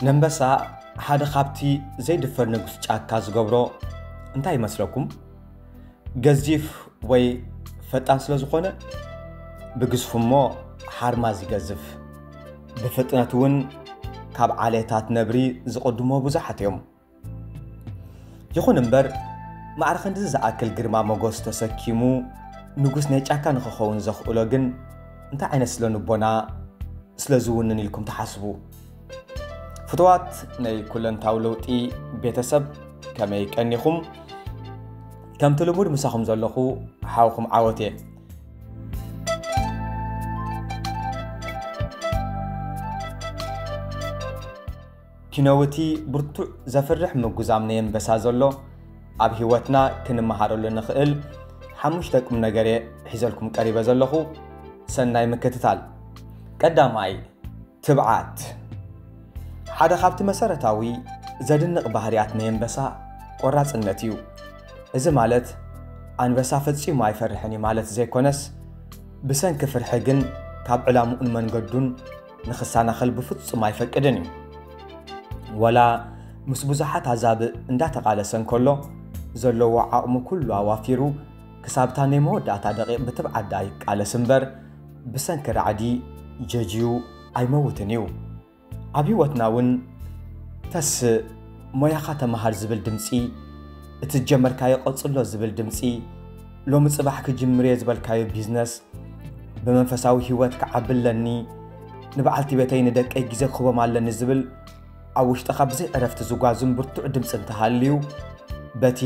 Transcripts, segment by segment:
ለምበሳ ሓደ ካብቲ ዘይድፈር ንጉስ ጫካ ዝገብሮ እንታይ ይመስለኩም? ገዚፍ ወይ ፈጣን ስለ ዝኾነ ብግዝፉ እሞ ሓርማዝ ይገዝፍ። ብፍጥነት እውን ካብ ዓሌታት ነብሪ ዝቕድሞ ብዙሓት እዮም። ይኹን እምበር ማዕረ ክንድዚ ዝኣክል ግርማ ሞጎስ ተሰኪሙ ንጉስ ናይ ጫካ ንክኸውን ዘኽእሎ ግን እንታይ ዓይነት ስለ ንቦና ስለ ዝውንን ኢልኩም ትሓስቡ? ፍትዋት ናይ ኩለንታዊ ለውጢ ቤተሰብ ከመይ ቀኒኹም? ከምቲ ልሙድ ምሳኹም ዘለኹ ሓውኹም ዓወት እየ። ኪኖ'ቲ ብርቱዕ ዘፍርሕ ምጉዛም ነየንበሳ ዘሎ ኣብ ሂወትና ክንመሃረሉ ንኽእል ሓሙሽተ ቁምነገር'የ ሒዘልኩም ቀሪበ ዘለኹ ሰናይ ምክትታል ቀዳማይ ትብዓት ሓደ ካብቲ መሰረታዊ ዘድንቕ ባህርያት ነየንበሳ ቆራጽነት እዩ እዚ ማለት ኣንበሳ ፈጺሙ ኣይፈርሕን እዩ ማለት ዘይኮነስ ብሰንኪ ፍርሒ ግን ካብ ዕላምኡን መንገዱን ንክሳናኸል ብፍጹም ኣይፈቅድን እዩ። ወላ ምስ ብዙሓት ኣዛብእ እንዳተቓለሰ እንከሎ ዘለዎ ዓቕሙ ኩሉ ኣዋፊሩ ክሳብታ ናይ መወዳእታ ደቂቕ ብትብዓት ደኣ ይቃለስ እምበር ብሰንኪ ራዕዲ ጀጅዩ ኣይመውትን እዩ። ኣብ ህይወትና እውን ተስእ ሞያኻ ተመሃር ዝብል ድምፂ፣ እቲ ዝጀመርካዮ ቀፅሎ ዝብል ድምፂ፣ ሎሚ ጽባሕ ክጅምርየ ዝበልካዮ ቢዝነስ ብመንፈሳዊ ህይወት ክዓቢ ኣለኒ ንበዓልቲ ቤተይ ንደቀይ ግዜ ክህቦም ኣለኒ ዝብል ኣብ ውሽጥኻ ብዘይ ዕረፍቲ ዝጓዙን ብርቱዕ ድምፂ እንተሃልዩ በቲ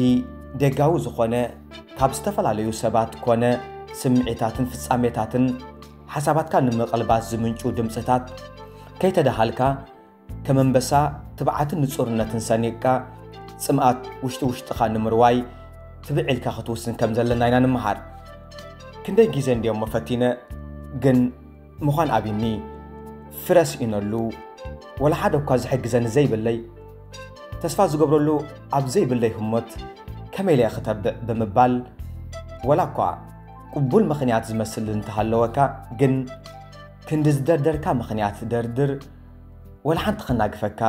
ደጋዊ ዝኾነ ካብ ዝተፈላለዩ ሰባት ኮነ ስምዒታትን ፍጻሜታትን ሓሳባትካ ንምቕልባስ ዝምንጩ ድምፅታት ከይተደሃልካ ከም ኣንበሳ ትብዓትን ንጹርነትን ሰኒቕካ ጽምኣት ውሽጢ ውሽጥኻ ንምርዋይ ትብዕ ኢልካ ክትውስን ከም ዘለና ኢና ንምሃር። ክንደይ ግዜ እንዲዮሞ ፈቲነ ግን ምዃን ኣብኒ ፍረ ስኢነሉ ወላ ሓደ እኳ ዝሕግዘኒ ዘይብለይ ተስፋ ዝገብረሉ ኣብ ዘይብለይ ህሞት ከመይ ኢለ ክተብዕ ብምባል ወላ እኳ ቅቡል ምኽንያት ዝመስል እንተሃለወካ ግን ክንዲ ዝደርደርካ ምኽንያት ደርድር ወላ ሓንቲ ከናግፈካ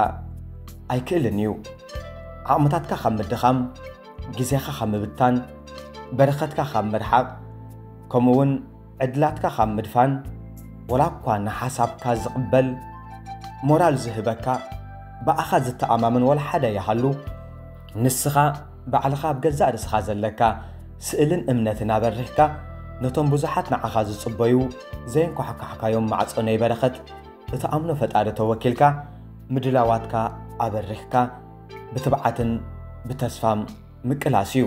ኣይክእልን እዩ። ዓቕምታትካ ካብ ምድኻም፣ ግዜኻ ካብ ምብታን፣ በረኸትካ ካብ ምርሓቕ ከምኡ እውን ዕድላትካ ካብ ምድፋን ወላ እኳ ንሓሳብካ ዝቕበል ሞራል ዝህበካ ብኣኻ ዝተኣማመን ወላ ሓደ ይሃሉ ንስኻ ባዕልኻ ኣብ ገዛእ ርእስኻ ዘለካ ስእልን እምነትን ኣበሪኽካ ነቶም ብዙሓት ንዓኻ ዝጽበዩ ዘየንኳሕኳሕካዮም ማዕጾ ናይ በረኸት እትኣምኖ ፈጣሪ ተወኪልካ ምድላዋትካ ኣበሪኽካ ብትብዓትን ብተስፋም ምቅላስ እዩ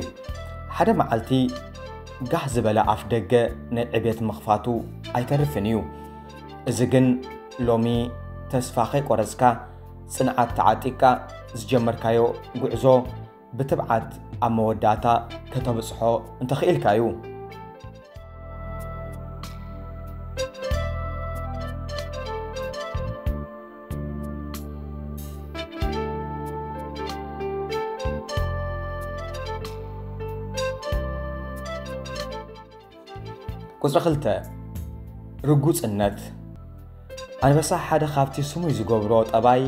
ሓደ መዓልቲ ጋህ ዝበለ ኣፍ ደገ ናይ ዕቤት ምኽፋቱ ኣይተርፍን እዩ እዚ ግን ሎሚ ተስፋ ከይቆረፅካ ፅንዓት ተዓጢቅካ ዝጀመርካዮ ጉዕዞ ብትብዓት ኣብ መወዳእታ ከተብጽሖ እንተኽኢልካ እዩ። ቁፅሪ ክልተ ርጉፅነት ኣንበሳ ሓደ ካብቲ ስሙይ ዝገብሮ ጠባይ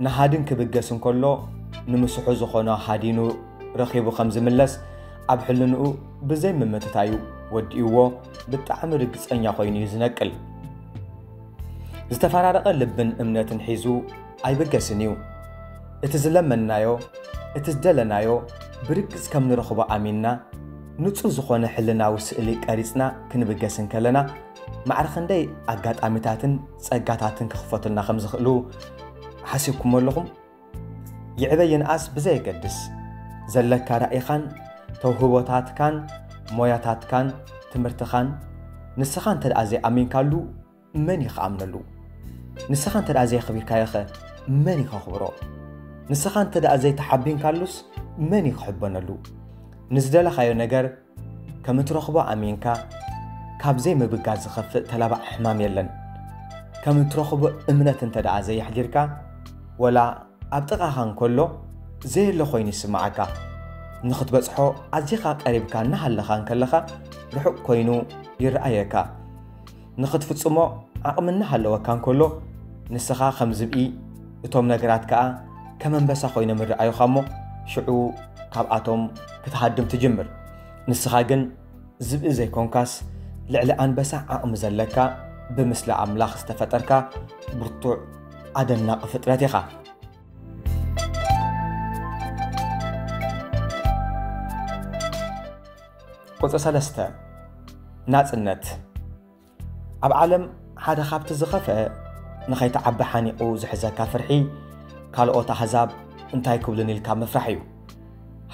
ንሃድን ክብገስ እንከሎ ንምስሑ ዝኾኖ ሃዲኑ ረኺቡ ከም ዝምለስ ኣብ ሕልንኡ ብዘይ ምምትታዩ ወዲእዎ ብጣዕሚ ርግጸኛ ኮይኑ እዩ ዝነቅል። ዝተፈራረቐ ልብን እምነትን ሒዙ ኣይብገስን እዩ። እቲ ዝለመንናዮ እቲ ዝደለናዮ ብርግጽ ከም ንረኽቦ ኣሚንና ንጹህ ዝኾነ ሕልናዊ ስእሊ ቀሪጽና ክንብገስ እንከለና ማዕረ ክንደይ ኣጋጣሚታትን ጸጋታትን ክኽፈቱልና ከም ዝኽእሉ ሓሲብኩሞ ኣለኹም? ይዕበ ይንኣስ ብዘየገድስ፣ ዘለካ ራኢኻን ተውህቦታትካን ሞያታትካን ትምህርትኻን ንስኻ እንተደኣ ዘይኣሚንካሉ መን እዩ ክኣምነሉ? ንስኻ እንተደኣ ዘየኽቢርካዮኸ መን እዩ ከኽብሮ? ንስኻ እንተደኣ ዘይተሓቢንካሉስ መን እዩ ክሕበነሉ? ንዝደለኻዮ ነገር ከም እትረኽቦ ኣሚንካ ካብ ዘይምብጋስ ዝኸፍእ ተላባዒ ሕማም የለን። ከም እትረኽቦ እምነት እንተድኣ ዘየሕዲርካ፣ ወላ ኣብ ጥቓኻ እንከሎ ዘየለ ኮይኑ ይስምዓካ። ንኽትበጽሖ ኣዚኻ ቀሪብካ እናሃለኻ እንከለኻ ርሑቕ ኮይኑ ይርኣየካ። ንኽትፍጽሞ ዓቕሚ እናሃለወካ እንከሎ፣ ንስኻ ከም ዝብኢ፣ እቶም ነገራት ከኣ ከም ኣንበሳ ዀይኖም ይረኣዩኻ እሞ፣ ሽዑ ካብኣቶም ክትሃድም ትጅምር። ንስኻ ግን ዝብኢ ዘይኰንካስ፣ ልዕሊ ኣንበሳ ዓቕሚ ዘለካ፣ ብምስሊ ኣምላኽ ዝተፈጠርካ ብርቱዕ ኣደናቒ ፍጥረት ኢኻ። ቁጽሪ ሰለስተ ናጽነት ኣብ ዓለም ሓደ ካብቲ ዝኸፍአ ንኸይትዓቢ ሓኒቑ ዝሕዘካ ፍርሒ ካልኦት ኣህዛብ እንታይ ክብሉን ኢልካ ምፍራሕ እዩ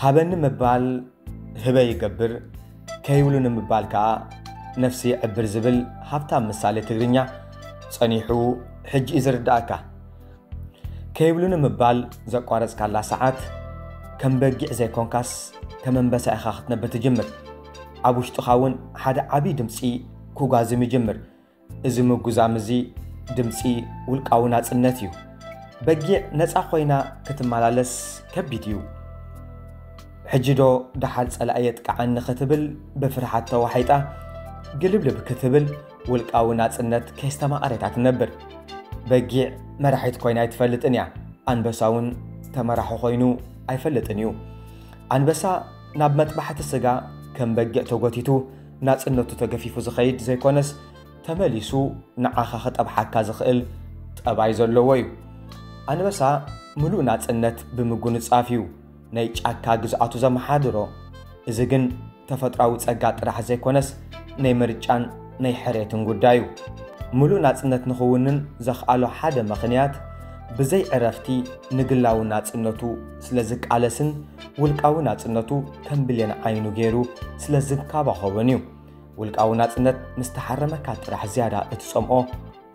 ሃበኒ ምባል ህበ ይገብር ከይብሉ ንምባል ከዓ ነፍሲ ይዕብር ዝብል ሃብታም ምሳሌ ትግርኛ ጸኒሑ ሕጂ እዩ ዝርዳእካ ከይብሉኒ ምባል ዘቋረጽካላ ሰዓት ከም በጊዕ ዘይኮንካስ ከም ኣንበሳ ኢኻ ክትነብር ትጅምር። ኣብ ውሽጥኻ እውን ሓደ ዓብዪ ድምጺ ኩጓዝም ይጅምር። እዚ ምጉዛም እዚ ድምጺ ውልቃዊ ናጽነት እዩ። በጊዕ ነጻ ኮይና ክትመላለስ ከቢድ እዩ። ሕጂ ዶ ደሓር ጸላኢ የጥቅዓኒ ክትብል ብፍርሓት ተዋሒጣ ግልብልብ ክትብል ውልቃዊ ናጽነት ከየስተማቐረት ኣትነብር። በጊዕ መራሒት ኮይና ኣይትፈልጥን እያ። ኣንበሳ እውን ተመራሒ ኮይኑ ኣይፈልጥን እዩ። ኣንበሳ ናብ መጥባሕቲ ስጋ ከም በጊዕ ተጎቲቱ ናጽነቱ ተገፊፉ ዝኸይድ ዘይኮነስ ተመሊሱ ንዓኻ ክጠብሓካ ዝኽእል ጠባይ ዘለዎ እዩ። ኣንበሳ ምሉእ ናጽነት ብምጉንጻፍ እዩ ናይ ጫካ ግዝኣቱ ዘመሓድሮ። እዚ ግን ተፈጥራዊ ጸጋ ጥራሕ ዘይኮነስ ናይ ምርጫን ናይ ሕሬትን ጉዳይ እዩ። ምሉእ ናጽነት ንኽውንን ዘኽኣሎ ሓደ ምኽንያት ብዘይ ዕረፍቲ ንግላዊ ናጽነቱ ስለ ዝቃለስን ውልቃዊ ናጽነቱ ከም ብሌን ዓይኑ ገይሩ ስለ ዝንካባኾቦን እዩ። ውልቃዊ ናጽነት ምስ ተሓረመካ ጥራሕ ዝያዳ እትጸምኦ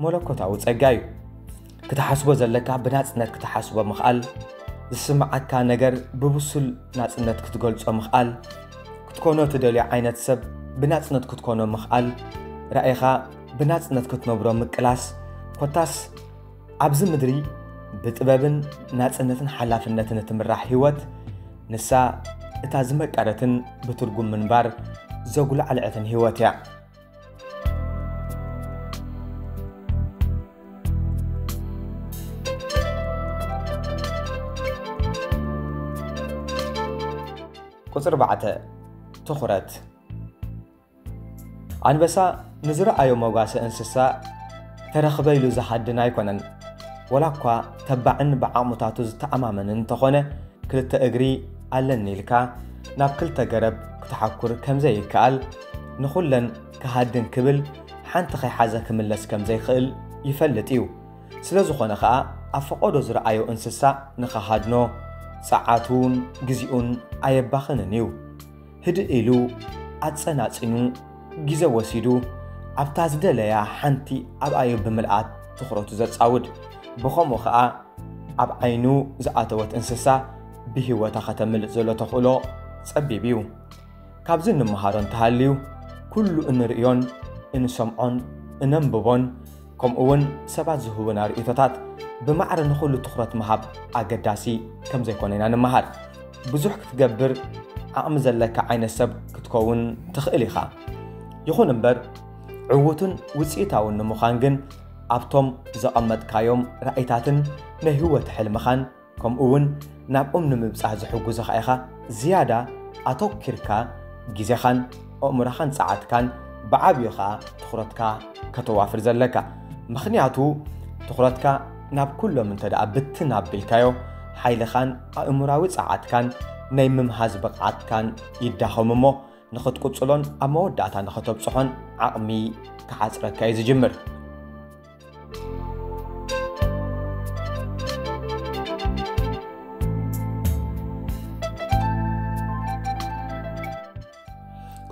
መለኮታዊ ጸጋ እዩ። ክትሓስቦ ዘለካ ብናጽነት ክትሓስቦ ምኽኣል፣ ዝስምዓካ ነገር ብብሱል ናጽነት ክትገልጾ ምኽኣል፣ ክትኮኖ ትደልዮ ዓይነት ሰብ ብናጽነት ክትኮኖ ምኽኣል፣ ራእይኻ ብናጽነት ክትነብሮ ምቅላስ፣ ኮታስ ኣብዚ ምድሪ ብጥበብን ናጽነትን ሓላፍነትን እትምራሕ ህይወት ንሳ እታ ዝመቀረትን ብትርጉም ምንባር ዘጉላዕልዐትን ህይወት እያ። ቁፅሪ ባዕተ ትኹረት ኣንበሳ ንዝረኣዮ መጓሰ እንስሳ ተረኽበ ኢሉ ዝሃድን ኣይኮነን ወላ እኳ ተባዕን ብዓቕሙታቱ ዝተኣማመን እንተኾነ ክልተ እግሪ ኣለኒ ኢልካ ናብ ክልተ ገረብ ክትሓኩር ከምዘይከኣል ንኹለን ክሃድን ክብል ሓንቲ ከይሓዘ ክምለስ ከም ዘይክእል ይፈልጥ እዩ። ስለ ዝኾነ ከኣ ኣብ ፈቐዶ ዝረኣዮ እንስሳ ንኸሃድኖ ጸዓቱን ግዜኡን ኣየባኽንን እዩ። ህድእ ኢሉ ኣጸናጺኑ ግዜ ወሲዱ ኣብታ ዝደለያ ሓንቲ ኣብኣ እዩ ብምልኣት ትኹረቱ ዘጻውድ። ብኸምኡ ከኣ ኣብ ዓይኑ ዝኣተወት እንስሳ ብህይወታ ከተምልጥ ዘሎ ተኽእሎ ጸቢብ እዩ። ካብዚ እንመሃሮ እንተሃልዩ ኩሉ እንርእዮን እንሰምዖን እነንብቦን ከምኡ እውን ሰባት ዝህቡና ርእቶታት ብማዕረ ንኹሉ ትኹረት ምሃብ ኣገዳሲ ከም ዘይኮነ ኢና ንምሃር ብዙሕ ክትገብር ዓቕሚ ዘለካ ዓይነት ሰብ ክትከውን ትኽእል ኢኻ ይኹን እምበር ዕዉትን ውፅኢታውን ንምዃን ግን ኣብቶም ዘቐመጥካዮም ራእይታትን ናይ ህይወት ሕልምኻን ከምኡ እውን ናብኦም ንምብጻህ ዝሕጉዙኻ ኢኻ ዝያዳ ኣቶኪርካ ግዜኻን ኣእምሮኻን ጸዓትካን ብዓብዩ ኸኣ ትኹረትካ ከተዋፍር ዘለካ ምኽንያቱ ትኹረትካ ናብ ኩሎም እንተ ደኣ ብትን ኣቢልካዮ ሓይልኻን ኣእምራዊ ጸዓትካን ናይ ምምሃዝ ብቕዓትካን ይዳኸም እሞ ንኽትቅጽሎን ኣብ መወዳእታ ንኸተብጽሖን ዓቕሚ ክሓጽረካ እዩ ዝጅምር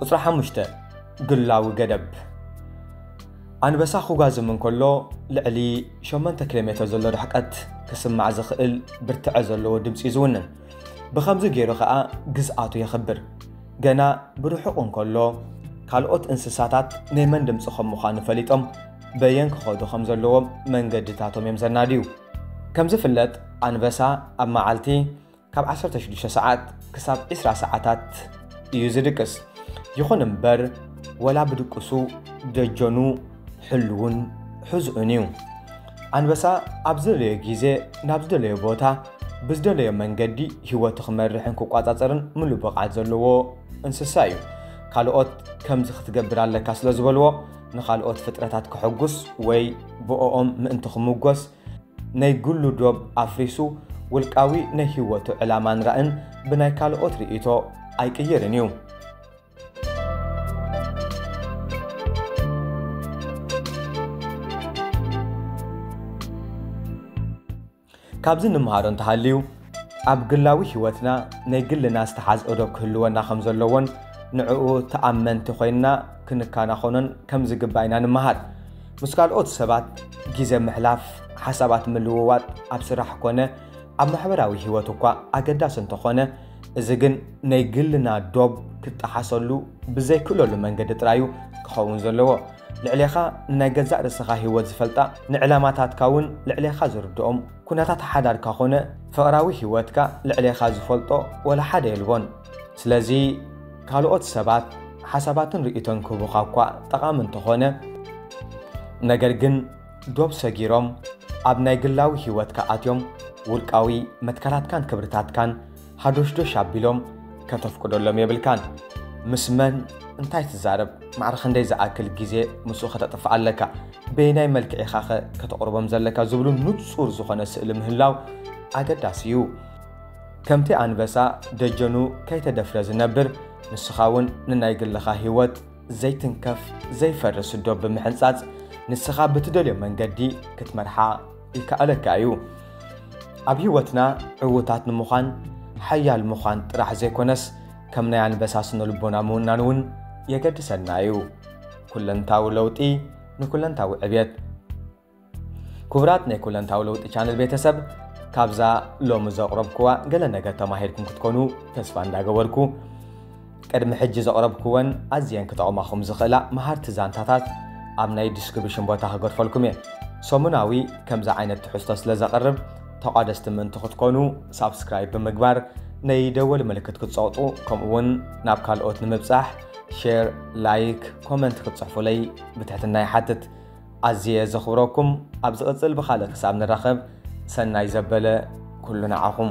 ቁፅሪ ሓሙሽተ ግላዊ ገደብ ኣንበሳ ክጓዝም እንከሎ ልዕሊ 8 ኪሎ ሜትር ዘሎ ርሕቀት ክስማዕ ዝኽእል ብርትዐ ዘለዎ ድምፂ እዩ ዝውንን ብከምዚ ገይሩ ከዓ ግዝኣቱ የኽብር ገና ብርሑቕ እንከሎ ካልኦት እንስሳታት ናይ መን ድምፂ ከም ምዃኑ ፈሊጦም በየን ክኸዱ ከም ዘለዎም መንገድታቶም እዮም ዘናድዩ። ከም ዝፍለጥ ኣንበሳ ኣብ መዓልቲ ካብ 16 ሰዓት ክሳብ 20 ሰዓታት እዩ ዝድቅስ። ይኹን እምበር ወላ ብድቅሱ ደጀኑ ሕሉውን ሕዝኡን እዩ። ኣንበሳ ኣብ ዝደለዮ ግዜ ናብ ዝደለዮ ቦታ ብዝደለዮ መንገዲ ህይወቱ ክመርሕን ክቋፃፀርን ምሉእ ብቕዓት ዘለዎ እንስሳ እዩ። ካልኦት ከምዚ ክትገብር ኣለካ ስለ ዝበልዎ ንኻልኦት ፍጥረታት ከሐጉስ ወይ ብኦኦም ምእንቲ ክሙጎስ ነይ ግሉ ዶብ ኣፍሪሱ ውልቃዊ ነይ ሂወቱ ዕላማን ራእን ብናይ ካልኦት ሪኢቶ ኣይቅይርን እዩ። ካብዚ እንመሃሮ እንተሃልዩ ኣብ ግላዊ ህይወትና ናይ ግልና ዝተሓዝኦ ዶብ ክህልወና ከም ዘለዎን ንዕኡ ተኣመንቲ ኮይንና ክንከናኸኖን ከም ዝግባእ ኢና ንመሃር። ምስ ካልኦት ሰባት ግዜ ምሕላፍ፣ ሓሳባት ምልውዋጥ ኣብ ስራሕ ኮነ ኣብ ማሕበራዊ ህይወት እኳ ኣገዳሲ እንተኾነ እዚ ግን ናይ ግልና ዶብ ክጠሓሰሉ ብዘይክእለሉ መንገዲ ጥራይ እዩ ክኸውን ዘለዎ። ልዕሌኻ ንናይ ገዛእ ርእስኻ ህይወት ዝፈልጣ፣ ንዕላማታትካ እውን ልዕሌኻ ዝርድኦም፣ ኩነታት ሓዳርካ ኮነ ፍቕራዊ ህይወትካ ልዕሌኻ ዝፈልጦ ወላ ሓደ የልቦን። ስለዚ ካልኦት ሰባት ሓሳባትን ርእይቶን ክህቡኻ እኳ ጠቓሚ እንተኾነ፣ ነገር ግን ዶብ ሰጊሮም ኣብ ናይ ግላዊ ህይወትካ ኣትዮም ውልቃዊ መትከላትካን ክብርታትካን ሃዶሽዶሽ ኣቢሎም ከተፍቅደሎም የብልካን። ምስ መን እንታይ ትዛረብ፣ ማዕረ ክንደይ ዝኣክል ግዜ ምስኡ ከተጥፍእ ኣለካ፣ በየናይ መልክዕ ኢኻኸ ከተቕርቦም ዘለካ ዝብሉ ንጹር ዝኾነ ስእሊ ምህላው ኣገዳሲ እዩ። ከምቲ ኣንበሳ ደጀኑ ከይተደፍረ ዝነብር፣ ንስኻ እውን ንናይ ግልኻ ህይወት ዘይትንከፍ ዘይፈርስ ዶብ ብምሕንጻጽ ንስኻ ብትደልዮ መንገዲ ክትመርሓ ይከኣለካ እዩ። ኣብ ህይወትና ዕውታት ንምዃን ሓያል ምዃን ጥራሕ ዘይኮነስ ከም ናይ ኣንበሳ ስነ ልቦና ምውናን እውን የገድሰና እዩ። ኩለንታዊ ለውጢ ንኩለንታዊ ዕብየት። ክቡራት ናይ ኩለንታዊ ለውጢ ቻነል ቤተሰብ ካብዛ ሎሚ ዘቕረብኩዋ ገለ ነገር ተማሂርኩም ክትኮኑ ተስፋ እንዳገበርኩ ቅድሚ ሕጂ ዘቕረብኩወን ኣዝየን ክጠቕማኹም ዝኽእላ መሃርቲ ዛንታታት ኣብ ናይ ዲስክሪብሽን ቦታ ክገድፈልኩም እየ። ሰሙናዊ ከምዚ ዓይነት ትሕዝቶ ስለ ዘቕርብ ተቋደስቲ ምእንቲ ክትኮኑ ሳብስክራይብ ብምግባር ነይ ደወል ምልክት ክትጸቕጡ ከምኡውን ናብ ካልኦት ንምብጻሕ ሼር፣ ላይክ፣ ኮመንት ክትጽሕፉለይ ብትሕትና ይሓትት። ኣዝየ ዘኽብረኩም ኣብ ዝቕጽል ብኻልእ ክሳብ ንራኸብ ሰናይ ዘበለ ኩሉ ንዓኹም።